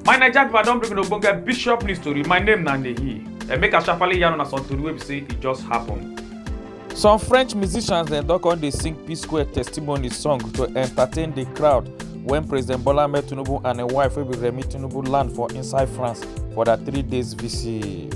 my naija pipo i don bring una ogbonge bishop news tori my name na nehi and make i sharparly yarn una some tori wey be say e just happen. some french musicians dem don come dey sing p-square testimony song to entertain di crowd wen president bola ahmed tinubu and im wife wey be remi tinubu land for inside france for dia three days visit.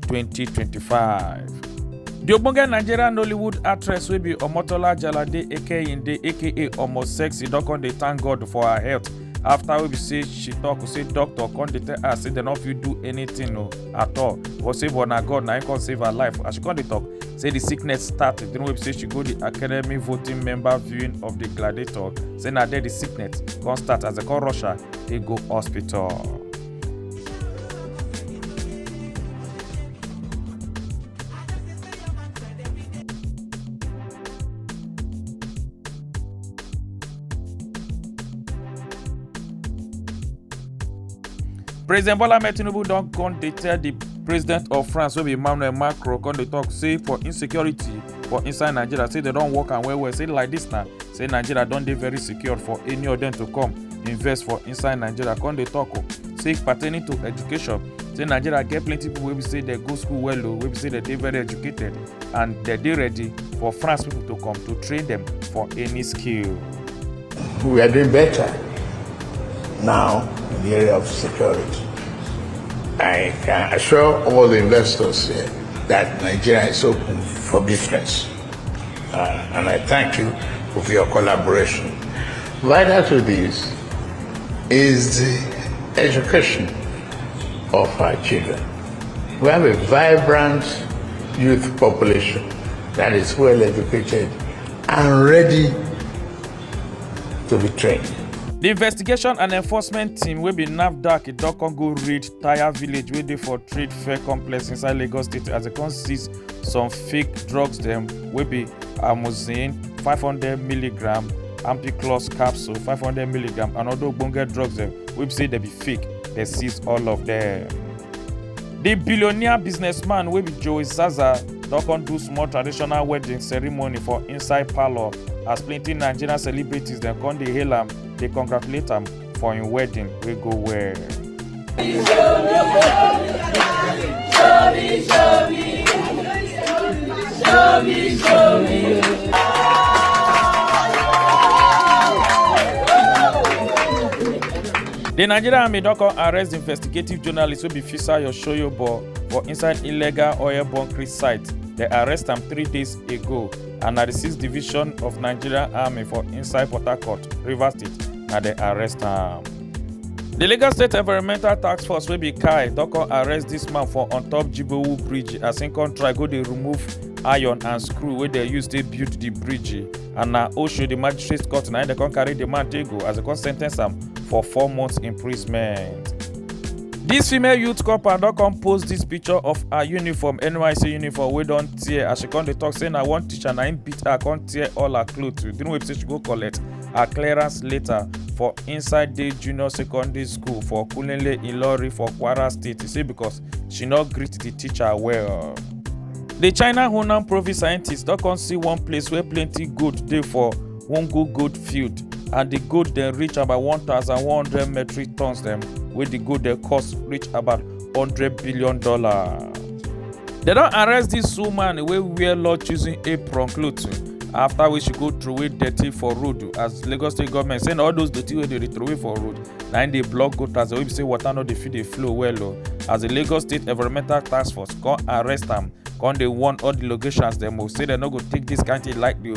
2025. di ogbonge nigerian nollywood actress wey be omotola jalade ekeyinde aka omo sexy don come dey thank god for her health after wey be say she talk say doctor come dey tell her say dem no fit do anything o at all but say but na god na him come save her life as she come dey talk say the sickness start the time wey be say she go the academy voting member viewing of the gladiator say na there the sickness come start as dem come rush her take go hospital. president bola ahmed tinubu don come dey tell di president of france wey be emmanuel macron come dey tok say for insecurity for inside nigeria say dem don work am well well say like dis na say nigeria don dey very secure for any of dem to come invest for inside nigeria come dey talk o say pertaining to education say nigeria get plenty people wey be say dem go school well o wey be say dem dey very educated and dem dey ready for france people to come to train them for any skill. we are doing better now in the area of security. I can assure all the investors here that Nigeria is open for business. Uh, and I thank you for your collaboration. Vital to this is the education of our children. We have a vibrant youth population that is well educated and ready to be trained. The investigation and enforcement team wey be nafdac e don come go raid tire village wey dey for trade fair complex inside lagos state as dem come seize some fake drugs dem wey be amoxicillin 500mg ampiclos capsule 500mg and other ogbonge drugs dem wey be say dem be fake dem seize all of dem. di billionaire businessman wey be joey zaza don come do small traditional wedding ceremony for inside parlour as plenty nigerian celebrities dem come dey hail am dey congratulate am for im wedding wey go well. The Nigerian Army don come arrest the investigative journalist wey be Fisa Yoshoyobo for inside illegal oil bunkering site. They arrest am three days ago. and na di sixth division of nigeria army for inside port harcourt rivers state na dem arrest am. di lagos state environmental task force wey be kai don come arrest dis man for on top jibowu bridge as im come try go dey remove iron and screw wey dem use take build di bridge and na osho di magistrate court na im dem come carry di man take go as dem come sen ten ce am for four months imprisonment. Dis female youth corper don come post dis picture of her uniform, NYSC uniform wey don tear as she come dey talk say na one teacher na im beat her come tear all her cloth during wey be say she go collect her clearance later for inside day junior secondary school for Kulele Ilori for Kwara State. She say because she no greet the teacher well. The China Hunan province scientists don come see one place wey plenty gold dey for one go goat field and the goat dem reach about 1100 metric tons dem wey the goat dem cost reach about 100 billion dollar. dem don arrest dis woman wey wear law choosing apron cloth after wey she go throway dirty for road as lagos state government say na all those dirty wey dey throway for road na im dey block gutters wey be say water no dey fit dey flow well o as the lagos state environmental task force come arrest am come dey warn all the locations dem o say dem no go take dis kind thing lightly o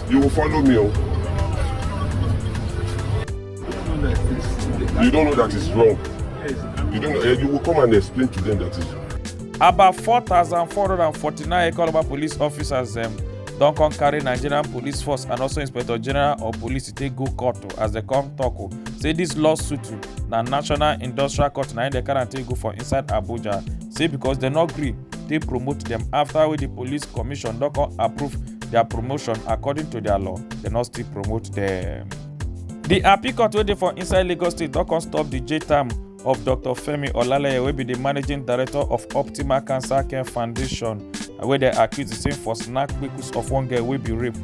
You will follow me, oh. You don't know that it's wrong. You don't know, eh, you will come and explain to them that it's About 4,449 Ekoraba police officers um, don come carry nigerian police force and also inspector general of police to take go court oh, as they come talk. o oh. say dis lawsuit oh, na national industrial court na im dem carry am take go for inside abuja say because dem no gree take promote dem after wey di police commission don come approve their promotion according to their law they no still promote them. The appeal court wey dey for inside lagos state don come stop the jail term of dr femi olaleye wey be the managing director of optimal cancer care foundation and wey dem accuse the same for snatch kpekus of one girl wey be rape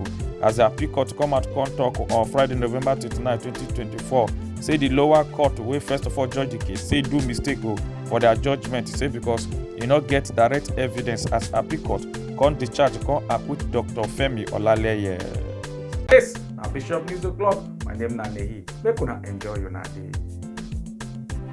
as the appeal court come out come talk on friday november 29 2024 say the lower court wey first of all judge the case say do mistake o for their judgement say because e no get direct evidence as appeal court come discharge come acquit dr femi olaleye. yes na bishop news o'clock my name na nehi make una enjoy una day.